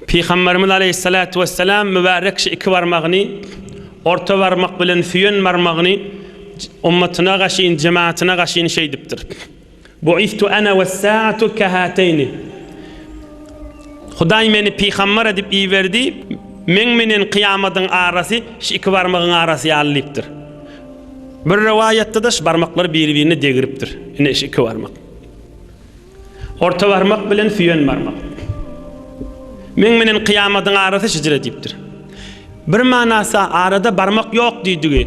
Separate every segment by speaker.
Speaker 1: Pygamberimiz Aleýhissalatu wesselam mübärek şu iki barmagyny, orta barmak bilen süýen barmagyny ummatyna gaşyn, jematyna gaşyn şeýdipdir. Buistu ana wes-saatu kahateýni. Hudaý meni pygamber edip iberdi, meň menen kyýamadyň arasy şu iki barmagyň arasy ýaly diýipdir. Bir rowaýatda-da şu barmaklar biri-birine degiripdir. Ine şu iki barmak. Orta barmak bilen süýen barmak. Meň menen kyýamadyň arasy şijir edipdir. Bir manasy arada barmak ýok diýdigi.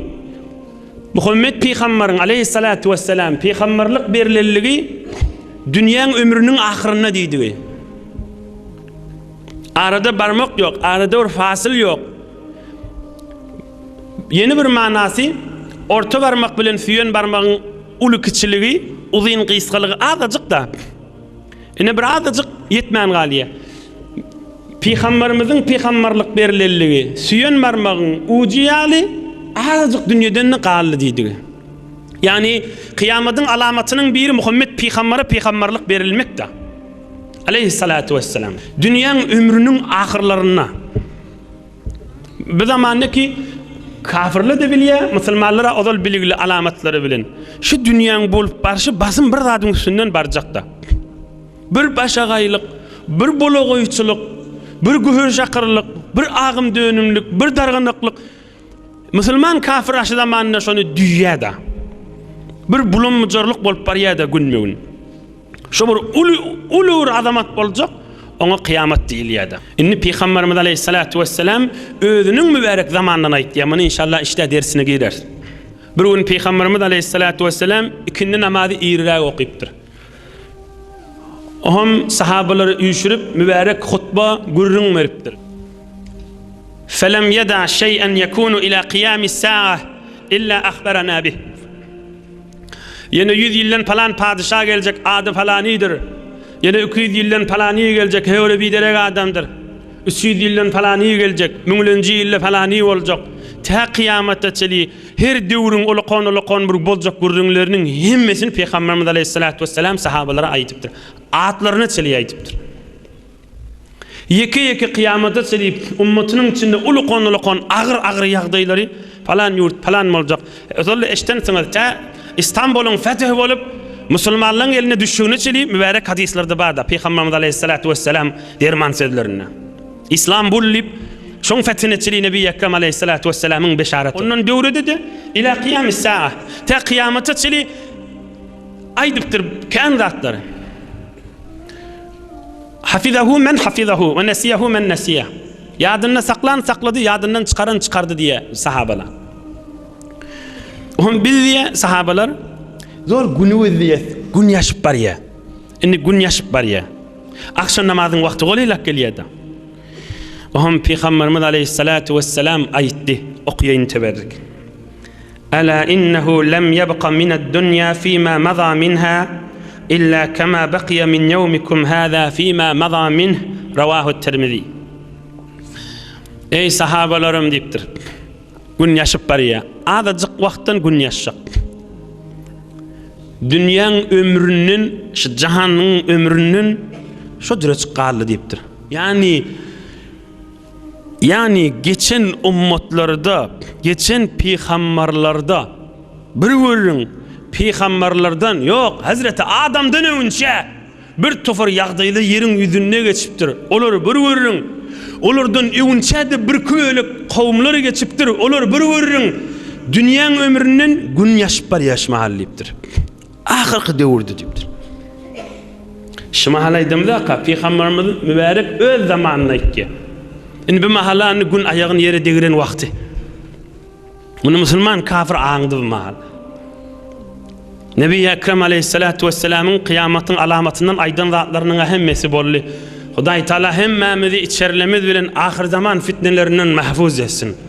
Speaker 1: Muhammet pygambaryň aleýhissalatu wessalam pygambarlyk berilendigi dünýäň ömrüniň ahyrynda diýdigi. Arada barmak ýok, arada bir fasyl ýok. Ýene bir manasy orta barmak bilen süýen barmagyň Uly-kiçiligi, uzyn-gysgalygy azajyk-da. Ine bir azajyk ýetmän galýar. Pygamberimiziň pygamberlik berlenligi süýen barmagyň ujy ýaly azajyk dünýeden-de galdy diýdigi. Ýagny kyýamatyň alamatynyň biri Muhammet pygambere pygamberlik berilmekde. Aleýhissalatu wessalam. Dünýäň ömrüniň ahyrlarynda Bu zamanda ki kafirler de bilýä, musulmanlara ozal biligli alamatlary bilen. Şu dünýäň bolup barşy basym bir zadyň üstünden barjakda. Bir başagaýlyk, bir bolagoýçylyk, bir gühürşakyrlyk, bir agym dönümlik, bir darganaklyk. Musulman kafir aşy zamanynda şony düýýäda. Bir bulum mujarlyk bolup barýada günme-gün. Şu bir uly, uly bir azamat boljak. Oňa kyýamat diýilýär-de. Indi Pygamberimiz aleýhissalatu wesselam özüniň mübärek zamanyndan aýtýar. Muny inşallah işdä dersine gireris. Bir gün Pygamberimiz aleýhissalatu wesselam ikindi namazy iriräk okypdyr. Oňam sahabalary üýşürip, mübärek hutba, gürrüň beripdir. Felem ýeda şeý'en ýekunu ila kyýamis-saa illa ahbarana bih. Ýene ýüz ýyldan palan padyşa geljek, ady palanydyr. Ýene iki ýüz ýyldan palany geljek, höwri biderek adamdyr. Üç ýüz ýyldan palany geljek, müňlenji ýylda palany boljak. Tä kyýamata çenli her döwrüň ulakan-ulakan bir boljak gürrüňleriniň hemmesini Pygamberimiz aleýhissalatu wesselam sahabalara aýdypdyr. Atlaryna çenli aýdypdyr. Ýeke-ýeke kyýamada çenli ümmetiniň içinde uly gonalakan agyr-agyr ýagdaýlary, palan ýurt, palan boljak, ozal-da eşidensiňiz, tä Istanbulyň feth bolup, musulmanlaryň eline düşjegine çenli mübärek hadyslarda bar-da, Pygamberimiz aleýhissalatu wesselam derman sözlerinde. Islambul diýip, şoň fethine çenli Nebi Ekrem aleýhissalatu wesselamyň beşaraty. Ondan döwrede-de, Ilâ kyýâmis sâah, tä kyýamata çenli aýdypdyr kän zatlary. Hafizahu men hafizahu we nesiýehu men nesiýe. Ýadynda saklan saklady, ýadyndan çykaran çykardy diýýär sahabalar. Oňa biz diýýär sahabalar, zor günümiz diýýär, gün ýaşyp barýar. Indi gün ýaşyp barýar. Agşam namazyň wagty golylap gelýär-de. Oňa pygamberimiz aleyhissalatu wesselam aýtdy, okaýyn teberrik. Ala innehu lem yebqa mined dunýa fima maza minha illa kema beqiýe min ýewmikum haza fima maza minh, Rawahu Tirmizi. Eý sahabalarym diýipdir. Gün ýaşyp barýar. Azajyk wagtdan gün ýaşjak. Dünýäň ömründen, şu jahanyň ömründen şo dürejik galdy diýipdir. Ýagny Ýagny geçen ummatlarda, geçen pygambarlarda bir görüň, pygambarlardan, ýok, Hazreti Adamdan öňünçä bir topar ýagdaýda ýeriň ýüzünde geçipdir. Olary bir görüň, olardan öňünçä-de birki bölek kowumlar geçipdir. Olary bir görüň, dünýäň ömründen gün ýaşyp barýar şu mahal diýipdir. Ahyrky döwürdi diýipdir. Şumahal aýdymda-ka Pygamberimiz mübärek öz zamanyny aýtdy. Indi bu mahala indi gün aýagyny ýere degiren wagty. Muny musulman kafir aňdy bu mahal. Nebi Ekrem aleyhissalatu vesselamyň kıyamatyň alamatyndan aýdan zatlarynyň hemmesi boldy. Hudaý Taala hemmämizi içerlemiz bilen ahyr zaman fitnelerinden mahfuz etsin.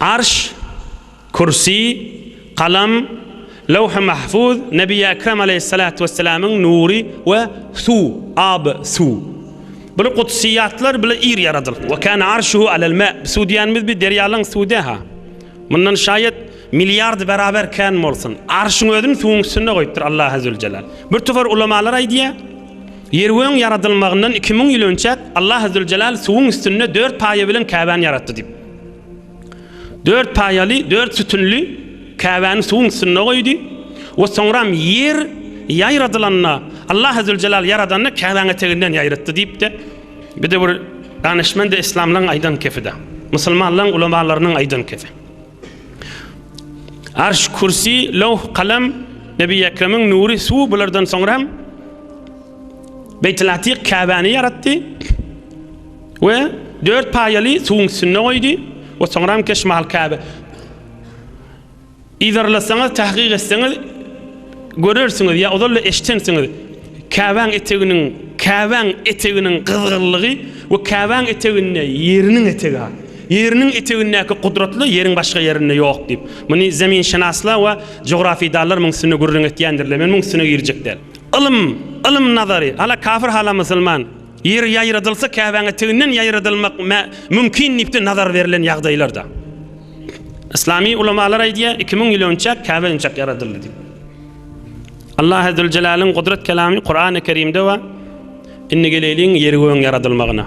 Speaker 1: Arş, Kürsi, Kalam, Lewh-i Mahfuz, Nebi Ekrem aleýhyssalatu wesselamyň nury we Suw, Ab, Suw. Bular gudsyýatlar, bular ir ýaradyl. Ve kâne arşuhu alel mâ. Suw diýýänimiz bi derýalaryň suwudy-hâ. Mundan şaýat milliard beraber kän bolsun. Arşyň özüni suwuň üstünde goýupdyr Allah Azzülcelâl. Bir topar ulamalar aýdýar, Ýergögüň ýaradylmagyndan iki müň ýyl önçäk Allah Azzülcelâl suwuň üstünde dört paýa bilen Käbäni ýaratdy diýip. Dört paýaly, dört sütünli Käbäni suwuň üstünde goýdy we soňram ýer ýaradylanda, Allah Azzewjelal ýaradanda Käbäň eteginden ýaratdy diýip-de, bir-de bir danyşmend-ä islamlygyň aýdan kefi-dä, musulmanlaryň ulamalarynyň aýdan kefi. Arş, Kürsi, Lawh, Kalam, Nebi Ekremiň nury, suw bulardan soňram Beýtil Atyk Käbäni ýaratdy. We dört paýaly suwuň üstünde goýdy. We soňram keş maly Käbä, Yzarlasaňyz, tahkyk etseňiz, görersiňiz ýa ozal-da eşidensiňiz, Käbäň eteginiň, Käbäň eteginiň gyzgynlygy we Käbäň eteginde Ýeriniň etegi bar. Ýeriniň etegindäki gudratly Ýeriň başga ýerinde ýok diýip. Muny zeminşenaslar we jografydanlar muň üstünde gürrüň etýändirler. Men muň üstüne girjek däl. Ylym, ylym nazary, hala kafir hala musulman. Ýer ýaýradylsa Käbäň eteginden ýaýradylmak mümkin diýip-de nazar berlen ýagdaýlarda. Yslamy ulamalar aýdýar, iki müň ýyl önçäk Käbe önçäk ýaradyldy diýip. Allah Azze we Jelalyň gudrat kelamy Kurany Kerimde we indi geleýliň ýeri göň ýaradylmagyna.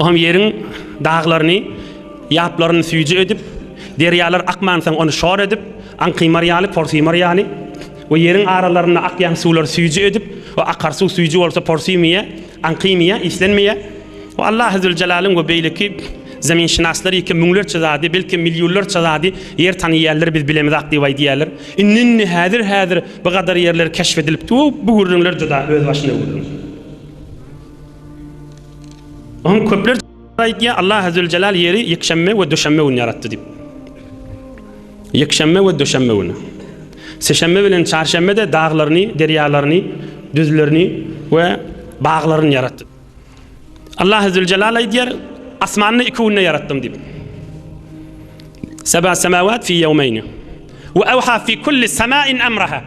Speaker 1: O hem ýeriň daglaryny, ýaplaryny süýji edip, derýalar akmansoň ony şor edip, aňkymar ýaly, porsimar ýaly we ýeriň aralarynda akýan suwlary süýji edip we akar suw süýji bolsa porsimýa, aňkymýa, islenmeýä we Allah Azzelcelalyň we beýleki zeminşynaslar ýeke müňlerçe zady, belkem millýullarça zady ýer tanyýärler biz bilemizak diýip aýdýärler. Indi-indi, häzir-häzir bu gadar ýerler keşf edilipdi we bu gürrüňler juda özbaşyna gürrüň. Onuň köpler aýtýar, Allah Azzewjelal ýeri ýekşenbe we döşenbe güni ýaratdy diýip. Ýekşenbe we döşenbe güni. Sişenbe bilen çarşenbe-de daglaryny, derýalaryny, düzlerini we baglaryny ýaratdy. Allah Azzewjelal aýdýar, Asmany iki günde ýaratdym diýip. Seba semawat fi yawmayn. Wa awha fi kulli samain amraha.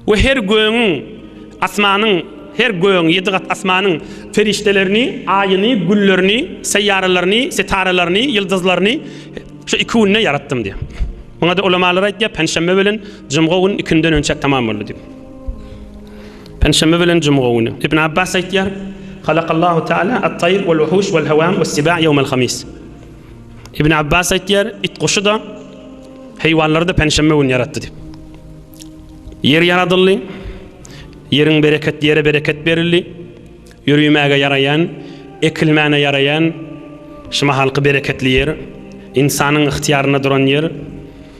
Speaker 1: we her gögüň, asmanyň, her gögüň, ýedi gat asmanyň perişdelerini, aýyny, günlerini, seýýaralaryny, setaralaryny, ýyldyzlaryny şu iki günde ýaratdym diýýär. Muňa-da ulamalar aýtýar, penşenbe bilen jumga gün ikinjiden önçäk tamam boldy diýip. Penşenbe bilen jumga güni. Ibn Abbas aýtýar, Halakallahu Taala at-taýr wal-wuhuş wal-hawam was-siba' ýawmal-hamis. Ibn Abbas aýtýar, it guşy-da, heýwanlary-da penşenbe güni ýaratdy diýip. Ýer ýaradyldy. Ýeriň bereket ýere bereket berildi. Ýörimäge ýaraýan, ekilmäne ýaraýan şu mahalky bereketli ýer, ynsanyň ygtyýarynda duran ýer.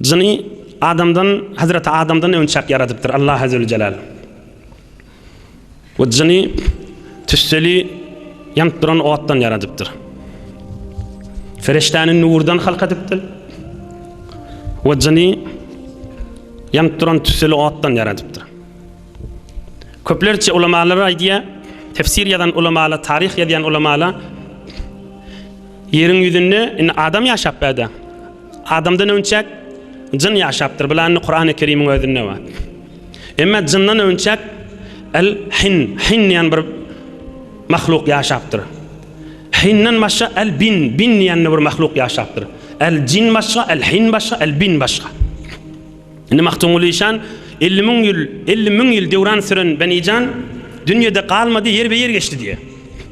Speaker 1: Jyny adamdan, Hazreti Adamdan önçäk ýaradypdyr Allah Azzewjelal. We jyny tüsseli ýanyp duran otdan ýaradypdyr. Feriştäni nurdan halk edipdir. We jyny ýanyp duran tüsseli otdan ýaradypdyr. Köplerçe ulamalar aýdýar, tefsir ýazan ulamalar, taryh ýazýan ulamalar ýeriň ýüzünde indi adam ýaşap bärde. Adamdan öňçäk jyn ýaşapdyr. Bularny Kurany Kerimiň özünde bar. Emma jyndan öňçäk el hin, hin diýen bir mahluk ýaşapdyr. Hinden başga el bin, bin diýen bir mahluk ýaşapdyr. El jin başga, el hin başga, el bin başga. Indi Magtymguly işan 50 müň ýyl, 50 müň ýyl döwran süren Benijan dünýede galmady, ýerbe-ýer geçdi diýýär.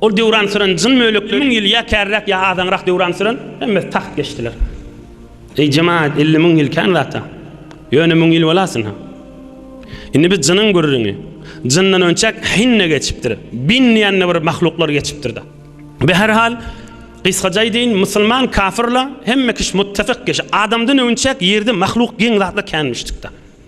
Speaker 1: Ol döwran süren jyn mölekler müň ýyl ýa kärräk ýa azaňrak döwran süren, hemmesi tagt geçdiler. Eý jemaat, elli müň ýyl kän zat-a. Ýöne müň ýyl bolasyn-ha. Indi biz jynyň gürrüňi. Jyndan önçäk hin-de geçipdir. Bin diýende bir mahluklar geçipdir-da. Bi her hal, gysgaça aýdaýyn, musulman kafir-la hemme kişi muttefik kişi. Adamdan önçäk ýerde mahluk geň zatlar känmişdik-da.